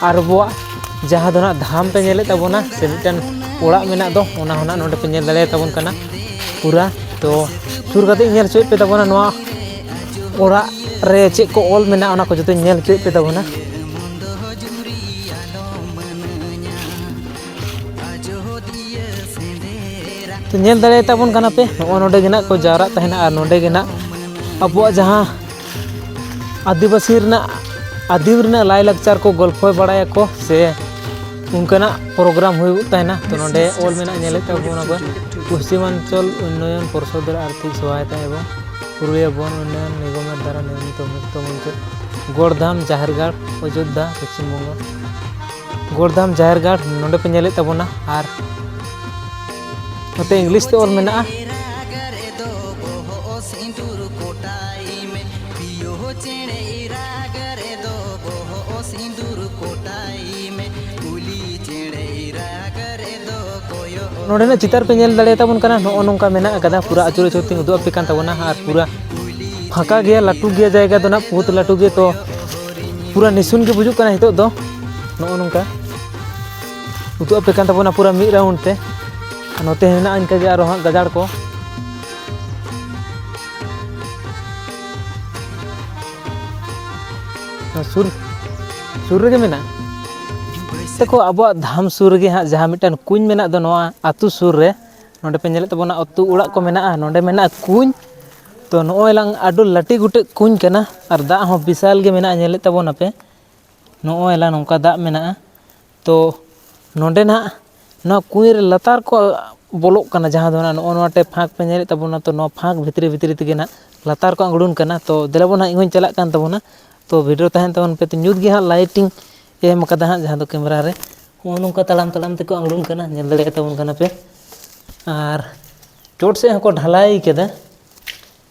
Speaker 1: ᱟᱨ ᱟᱵᱚᱣᱟᱜ ᱡᱟᱦᱟᱸ ᱫᱚ ᱱᱟᱜ ᱫᱷᱟᱢ ᱯᱮ ᱧᱮᱞᱮᱫ ᱛᱟᱵᱚᱱᱟ ᱥᱮ ᱢᱤᱫᱴᱮᱱ ᱚᱲᱟᱜ ᱢᱮᱱᱟᱜ ᱫᱚ ᱚᱱᱟ ᱦᱚᱸ ᱱᱟᱜ ᱱᱚᱰᱮ ᱯᱮ ᱧᱮᱞ ᱫᱟᱲᱮᱭᱟ ᱛᱟᱵᱚᱱ ᱠᱟᱱᱟ ᱯᱩᱨᱟ ᱛᱚ ᱥᱩᱨ ᱠᱟᱛᱮ ᱧᱮᱞ ᱦᱚᱪᱚᱭᱮᱫ ᱯᱮ ᱛᱟᱵᱚᱱᱟ ᱱᱚᱣᱟ ᱚᱲᱟᱜ ᱨᱮ ᱪᱮᱫ ᱠᱚ ᱚᱞ ᱢᱮᱱᱟᱜᱼᱟ ᱚᱱᱟ ᱠᱚ ᱡᱚᱛᱚᱧ ᱧᱮᱞ ᱦᱚᱪᱚᱭᱮᱫ ᱯᱮ ᱛᱟᱵᱚᱱᱟ ᱛᱚ ᱧᱮᱞ ᱫᱟᱲᱮᱭᱟ ᱛᱟᱵᱚᱱ ᱠᱟᱱᱟ ᱯᱮ ᱱᱚᱜᱼᱚ ᱱᱚᱰᱮ ᱜᱮ ᱱᱟᱜ ᱠᱚ ᱡᱟᱣᱨᱟᱜ ᱛᱟᱦᱮᱱᱟ ᱟᱨ ᱱᱚᱰᱮ ᱜᱮ ᱱᱟᱜ ᱟᱵᱚᱣᱟᱜ ᱡᱟᱦᱟᱸ ᱟᱹᱫᱤᱵᱟᱹᱥᱤ ᱨᱮᱱᱟᱜ ᱟᱹᱫᱤᱢ ᱨᱮᱱᱟᱜ ᱞᱟᱭᱼᱞᱟᱠᱪᱟᱨ ᱠᱚ ᱜᱚᱞᱯᱷᱚ ᱵᱟᱲᱟᱭᱟᱠᱚ ᱥᱮ ᱚᱱᱠᱟᱱᱟᱜ ᱯᱨᱳᱜᱨᱟᱢ ᱦᱩᱭᱩᱜ ᱛᱟᱦᱮᱱᱟ ᱛᱚ ᱱᱚᱰᱮ ᱚᱞ ᱢᱮᱱᱟᱜᱼᱟ ᱧᱮᱞᱮᱫ ᱛᱟᱵᱚᱱᱟ ᱵᱚᱱ ᱯᱚᱥᱪᱤᱢᱟᱧᱪᱚᱞ ᱩᱱᱱᱚᱭᱚᱱ ᱯᱚᱨᱥᱚᱫᱽ ᱨᱮ ᱟᱨᱛᱷᱤᱠ ᱥᱚᱦᱟᱭᱚᱛᱟ ᱮᱵᱚᱝ ᱯᱩᱨᱩᱞᱤᱭᱟᱹ ᱵᱚᱱ ᱩᱱᱱᱚᱭᱚᱱ ᱱᱤᱜᱚᱢ ᱫᱟᱨᱟ ᱱᱤᱨᱢᱤᱛ ᱢᱩᱠᱛᱚ ᱢᱚᱧᱪᱚ ᱜᱚᱲᱫᱷᱟᱢ ᱡᱟᱦᱮᱨ ᱜᱟᱲ ᱚᱡᱳᱫᱽᱫᱷᱟ ᱯᱚᱥᱪᱤᱢ ᱵᱚᱝᱜᱚ ᱜᱚᱲᱫᱷᱟᱢ ᱡᱟᱦᱮᱨ ᱜᱟᱲ ᱱᱚᱰᱮ ᱯᱮ ᱧᱮᱞᱮᱫ ᱛᱟᱵᱚᱱᱟ ᱟᱨ ᱱᱚᱛᱮ ᱤᱝᱞᱤᱥ ᱛᱮ ᱚᱞ ᱢᱮᱱᱟᱜᱼᱟ ᱱᱚᱰᱮᱱᱟᱜ ᱪᱤᱛᱟᱹᱨ ᱯᱮ ᱧᱮᱞ ᱫᱟᱲᱮ ᱛᱟᱵᱚᱱ ᱠᱟᱱᱟ ᱱᱚᱜᱼᱚ ᱱᱚᱝᱠᱟ ᱢᱮᱱᱟᱜ ᱟᱠᱟᱫᱟ ᱯᱩᱨᱟᱹ ᱟᱹᱪᱩᱨ ᱟᱹᱪᱩᱨ ᱛᱤᱧ ᱩᱫᱩᱜ ᱟᱯᱮ ᱠᱟᱱ ᱛᱟᱵᱚᱱᱟ ᱟᱨ ᱯᱩᱨᱟᱹ ᱯᱷᱟᱸᱠᱟ ᱜᱮᱭᱟ ᱞᱟᱹᱴᱩ ᱜᱮᱭᱟ ᱡᱟᱭᱜᱟ ᱫᱚ ᱱᱟᱜ ᱵᱚᱦᱩᱛ ᱞᱟᱹᱴᱩ ᱜᱮ ᱛᱚ ᱯᱩᱨᱟᱹ ᱱᱤᱥᱩᱱ ᱜᱮ ᱵᱩᱡᱩᱜ ᱠᱟᱱᱟ ᱱᱤᱛᱚᱜ ᱫᱚ ᱱᱚᱜᱼᱚ ᱱᱚᱝᱠᱟ ᱩᱫᱩᱜ ᱟᱯᱮ ᱠᱟᱱ ᱛᱟᱵᱚᱱᱟ ᱯᱩᱨᱟᱹ ᱢᱤᱫ ᱨᱟᱣᱩᱱᱰ ᱛᱮ ᱱᱚᱛᱮ ᱦᱮᱱᱟᱜᱼᱟ ᱤᱱᱠᱟᱹ ᱜᱮ ᱟᱨᱚ ᱦᱟᱸᱜ ᱜᱟᱡᱟᱲ ᱠᱚ ᱥᱩᱨ ᱥᱩᱨ ᱨᱮᱜᱮ ᱢᱮᱱᱟᱜᱼᱟ ᱛᱮᱠᱚ ᱟᱵᱚᱣᱟᱜ ᱫᱷᱟᱢ ᱥᱩᱨ ᱨᱮᱜᱮ ᱦᱟᱸᱜ ᱡᱟᱦᱟᱸ ᱢᱤᱫᱴᱟᱝ ᱠᱩᱧ ᱢᱮᱱᱟᱜ ᱫᱚ ᱱᱚᱣᱟ ᱟᱛᱳ ᱥᱩᱨ ᱨᱮ ᱱᱚᱰᱮ ᱯᱮ ᱧᱮᱞᱮᱫ ᱛᱟᱵᱚᱱᱟ ᱟᱛᱳ ᱚᱲᱟᱜ ᱠᱚ ᱢᱮᱱᱟᱜᱼᱟ ᱱᱚᱰᱮ ᱢᱮᱱᱟᱜᱼᱟ ᱠᱩᱧ ᱛᱚ ᱱᱚᱜᱼᱚᱭ ᱞᱟᱝ ᱟᱹᱰᱤ ᱞᱟᱹᱴᱩ ᱜᱩᱴᱮᱡ ᱠᱩᱧ ᱠᱟᱱᱟ ᱟᱨ ᱫᱟᱜ ᱦᱚᱸ ᱵᱤᱥᱟᱞ ᱜᱮ ᱢᱮᱱᱟᱜᱼᱟ ᱧᱮᱞᱮᱫ ᱛᱟᱵᱚᱱᱟᱯᱮ ᱱᱚᱜᱼᱚᱭ ᱞᱟᱝ ᱱᱚᱝᱠᱟ ᱫᱟᱜ ᱢᱮᱱᱟᱜᱼᱟ ᱛᱚ ᱱᱚᱰᱮᱱᱟᱜ ᱱᱚᱣᱟ ᱠᱩᱸᱧ ᱨᱮ ᱞᱟᱛᱟᱨ ᱠᱚ ᱵᱚᱞᱚᱜ ᱠᱟᱱᱟ ᱡᱟᱦᱟᱸ ᱫᱚ ᱱᱚᱜᱼᱚ ᱱᱚᱣᱟ ᱴᱟᱭᱤᱯ ᱯᱷᱟᱸᱠ ᱯᱮ ᱧᱮᱞᱮᱫ ᱛᱟᱵᱚᱱᱟ ᱛᱚ ᱱᱚᱣᱟ ᱯᱷᱟᱸᱠ ᱵᱷᱤᱛᱨᱤ ᱵᱷᱤᱛᱨᱤ ᱛᱮᱜᱮ ᱦᱟᱸᱜ ᱞᱟᱛᱟᱨ ᱠᱚ ᱟᱬᱜᱚᱱ ᱠᱟᱱᱟ ᱛᱚ ᱫᱮᱞᱟ ᱵᱚᱱ ᱦᱟᱸᱜ ᱤᱧ ᱦᱚᱸᱧ ᱪᱟᱞᱟᱜ ᱠᱟᱱ ᱛᱟᱵᱚᱱᱟ ᱛᱚ ᱵᱷᱤᱰᱤᱭᱳ ᱛᱟᱦᱮᱱ ᱛᱟᱵᱚᱱ ᱯᱮ ᱧᱩᱛ ᱜᱮ ᱦᱟᱸᱜ ᱞᱟᱭᱤᱴᱤᱝ ᱮᱢ ᱠᱟᱫᱟ ᱦᱟᱸᱜ ᱡᱟᱦᱟᱸ ᱫᱚ ᱠᱮᱢᱮᱨᱟ ᱨᱮ ᱱᱚᱜᱼᱚ ᱱᱚᱝᱠᱟ ᱛᱟᱲᱟᱢ ᱛᱟᱲᱟᱢ ᱛᱮᱠᱚ ᱟᱬᱜᱚᱱ ᱠᱟᱱᱟ ᱧᱮᱞ ᱫᱟᱲᱮᱭᱟᱛᱟ ᱵᱚᱱ ᱠᱟᱱᱟ ᱯᱮ ᱟᱨ ᱪᱚᱴ ᱥᱮᱫ ᱦᱚᱸᱠᱚ ᱰᱷᱟᱹᱞᱟᱹᱭ ᱠᱟᱫᱟ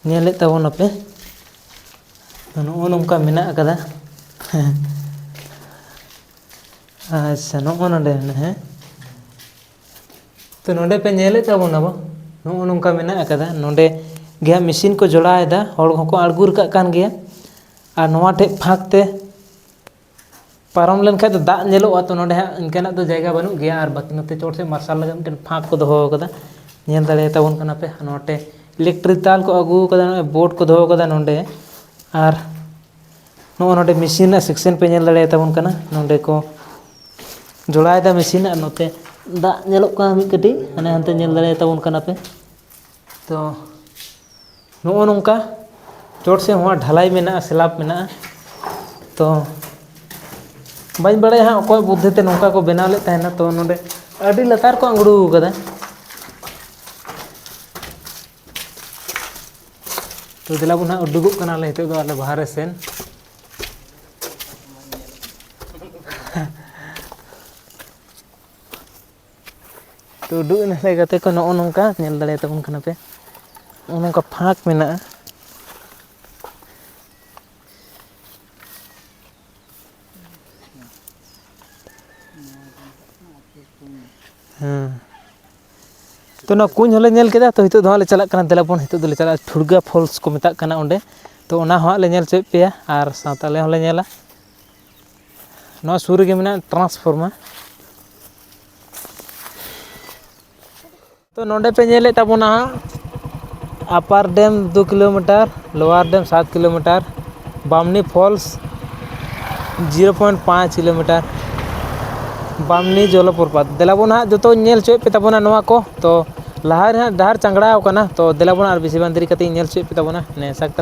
Speaker 1: ᱧᱮᱞᱮᱫ ᱛᱟᱵᱚᱱᱟᱯᱮ ᱱᱚᱜᱼᱚ ᱱᱚᱝᱠᱟ ᱢᱮᱱᱟᱜ ᱟᱠᱟᱫᱟ ᱦᱮᱸ ᱟᱪᱪᱷᱟ ᱱᱚᱜᱼᱚ ᱱᱚᱰᱮ ᱢᱮᱱᱟᱜᱼᱟ ᱦᱮᱸ ᱛᱚ ᱱᱚᱰᱮ ᱯᱮ ᱧᱮᱞᱮᱫ ᱛᱟᱵᱚᱱᱟ ᱵᱟᱝ ᱱᱚᱜᱼᱚ ᱱᱚᱝᱠᱟ ᱢᱮᱱᱟᱜ ᱟᱠᱟᱫᱟ ᱱᱚᱰᱮ ᱜᱮ ᱦᱟᱸᱜ ᱢᱮᱥᱤᱱ ᱠᱚ ᱡᱚᱲᱟᱣᱮᱫᱟ ᱦᱚᱲ ᱦᱚᱸᱠᱚ ᱟᱬᱜᱚ ᱨᱟᱠᱟᱵ ᱠᱟᱱ ᱜᱮᱭᱟ ᱟᱨ ᱱᱚᱣᱟ ᱴᱷᱮᱡ ᱯᱷᱟᱸᱠ ᱛᱮ ᱯᱟᱨᱚᱢ ᱞᱮᱱᱠᱷᱟᱱ ᱫᱚ ᱫᱟᱜ ᱧᱮᱞᱚᱜᱼᱟ ᱛᱚ ᱱᱚᱰᱮ ᱦᱟᱸᱜ ᱤᱱᱠᱟᱹᱱᱟᱜ ᱫᱚ ᱡᱟᱭᱜᱟ ᱵᱟᱹᱱᱩᱜ ᱜᱮᱭᱟ ᱟᱨ ᱵᱟᱹᱠᱤ ᱱᱚᱛᱮ ᱪᱚᱴ ᱥᱮᱫ ᱢᱟᱨᱥᱟᱞ ᱞᱟᱹᱜᱤᱫ ᱢᱤᱫᱴᱮᱱ ᱯᱷᱟᱸᱠ ᱠᱚ ᱫᱚᱦᱚ ᱠᱟᱫᱟ ᱧᱮᱞ ᱫᱟᱲᱮᱭᱟᱛᱟᱵᱚᱱ ᱠᱟᱱᱟ ᱯᱮ ᱱᱚᱰᱮ ᱤᱞᱮᱠᱴᱨᱤᱠ ᱛᱟᱨ ᱠᱚ ᱟᱹᱜᱩ ᱠᱟᱫᱟ ᱱᱚᱜᱼᱚᱭ ᱵᱳᱨᱰ ᱠᱚ ᱫᱚᱦᱚ ᱠᱟᱫᱟ ᱱᱚᱰᱮ ᱟᱨ ᱱᱚᱜᱼᱚ ᱱᱚᱰᱮ ᱢᱮᱹᱥᱤᱱ ᱨᱮᱱᱟᱜ ᱥᱮᱠᱥᱮᱱ ᱯᱮ ᱧᱮᱞ ᱫᱟᱲᱮᱭᱟᱛᱟᱵᱚᱱ ᱠᱟᱱᱟ ᱱᱚᱰᱮ ᱠᱚ ᱡᱚᱲᱟᱭᱫᱟ ᱢᱮᱹᱥᱤᱱ ᱟᱨ ᱱᱚᱛᱮ ᱫᱟᱜ ᱧᱮᱞᱚᱜ ᱠᱟᱱᱟ ᱢᱤᱫ ᱠᱟᱹᱴᱤᱡ ᱦᱟᱱᱮ ᱦᱟᱱᱛᱮ ᱧᱮᱞ ᱫᱟᱲᱮᱭᱟᱛᱟᱵᱚᱱ ᱠᱟᱱᱟ ᱯᱮ ᱛᱚ ᱱᱚᱜᱼᱚ ᱱᱚᱝᱠᱟ ᱪᱚᱴ ᱥᱮᱫ ᱦᱚᱸ ᱰᱷᱟᱞᱟᱭ ᱢᱮᱱᱟᱜᱼᱟ ᱥᱞᱟᱵᱽ ᱢᱮᱱᱟᱜᱼᱟ ᱛᱚ ᱵᱟᱹᱧ ᱵᱟᱲᱟᱭᱟ ᱦᱟᱸᱜ ᱚᱠᱚᱭ ᱵᱩᱫᱽᱫᱷᱤ ᱛᱮ ᱱᱚᱝᱠᱟ ᱠᱚ ᱵᱮᱱᱟᱣ ᱞᱮᱫ ᱛᱟᱦᱮᱱᱟ ᱛᱚ ᱱᱚᱰᱮ ᱟᱹᱰᱤ ᱞᱟᱛᱟᱨ ᱠᱚ ᱟᱬᱜᱚ ᱠᱟᱫᱟ ᱛᱚ ᱫᱮᱞᱟ ᱵᱚᱱ ᱦᱟᱸᱜ ᱩᱰᱩᱠᱚᱜ ᱠᱟᱱᱟᱞᱮ ᱱᱤᱛᱚᱜ ᱫᱚ ᱟᱞᱮ ᱵᱟᱦᱨᱮ ᱥᱮᱱ ᱛᱚ ᱩᱰᱩᱠ ᱮᱱᱟᱞᱮ ᱜᱟᱛᱮ ᱠᱚ ᱱᱚᱜᱼᱚ ᱱᱚᱝᱠᱟ ᱧᱮᱞ ᱫᱟᱲᱮᱭᱟ ᱛᱟᱵᱚᱱ ᱠᱟᱱᱟ ᱯᱮ ᱱᱚᱜᱼᱚ ᱱᱚᱝᱠᱟ ᱯᱷᱟᱸᱠ ᱢᱮᱱᱟᱜᱼᱟ ᱦᱮᱸ ᱛᱚ ᱚᱱᱟ ᱠᱩᱸᱧ ᱦᱚᱸᱞᱮ ᱧᱮᱞ ᱠᱮᱫᱟ ᱛᱚ ᱱᱤᱛᱚᱜ ᱫᱚ ᱦᱟᱸᱜ ᱞᱮ ᱪᱟᱞᱟᱜ ᱠᱟᱱᱟ ᱫᱮᱞᱟ ᱵᱚᱱ ᱱᱤᱛᱚᱜ ᱫᱚᱞᱮ ᱪᱟᱞᱟᱜᱼᱟ ᱴᱷᱩᱲᱜᱟᱹ ᱯᱷᱚᱞᱥ ᱠᱚ ᱢᱮᱛᱟᱜ ᱠᱟᱱᱟ ᱚᱸᱰᱮ ᱛᱚ ᱚᱱᱟ ᱦᱚᱸ ᱦᱟᱸᱜ ᱞᱮ ᱧᱮᱞ ᱦᱚᱪᱚᱭᱮᱫ ᱯᱮᱭᱟ ᱟᱨ ᱥᱟᱶᱛᱮ ᱟᱞᱮ ᱦᱚᱸᱞᱮ ᱧᱮᱞᱟ ᱱᱚᱣᱟ ᱥᱩᱨ ᱨᱮᱜᱮ ᱢᱮᱱᱟᱜᱼᱟ ᱴᱨᱟᱱᱥᱯᱷᱚᱨᱢᱟ ᱛᱚ ᱱᱚᱰᱮ ᱯᱮ ᱧᱮᱞᱮᱫ ᱛᱟᱵᱚᱱᱟ ᱟᱯᱟᱨ ᱰᱮᱢ ᱫᱩ ᱠᱤᱞᱳᱢᱤᱴᱟᱨ ᱞᱳᱣᱟᱨ ᱰᱮᱢ ᱥᱟᱛ kilometre Bamni falls zero point ᱯᱟᱸᱪ ᱠᱤᱞᱳᱢᱤᱴᱟᱨ ᱵᱟᱢᱱᱤ ᱡᱚᱞᱚ ᱯᱨᱚᱯᱟᱛ ᱫᱮᱞᱟ ᱵᱚᱱ ᱦᱟᱸᱜ ᱡᱚᱛᱚᱧ ᱧᱮᱞ ᱦᱚᱪᱚᱭᱮᱫ ᱯᱮ ᱛᱟᱵᱚᱱᱟ ᱱᱚᱣᱟ ᱠᱚ ᱛᱚ ᱞᱟᱦᱟ ᱨᱮ ᱦᱟᱸᱜ ᱰᱟᱦᱟᱨ ᱪᱟᱝᱜᱽᱲᱟᱣ ᱠᱟᱱᱟ ᱛᱚ ᱫᱮᱞᱟ ᱵᱚᱱ ᱟᱨ ᱵᱮᱥᱤ ᱵᱟᱝ ᱫᱮᱨᱤ ᱠᱟᱛᱮᱫ ᱤᱧ ᱧᱮᱞ ᱦᱚᱪᱚᱭᱮᱫ ᱯᱮ ᱛᱟᱵᱚᱱᱟ ᱱᱮ ᱥᱟᱠᱛᱟ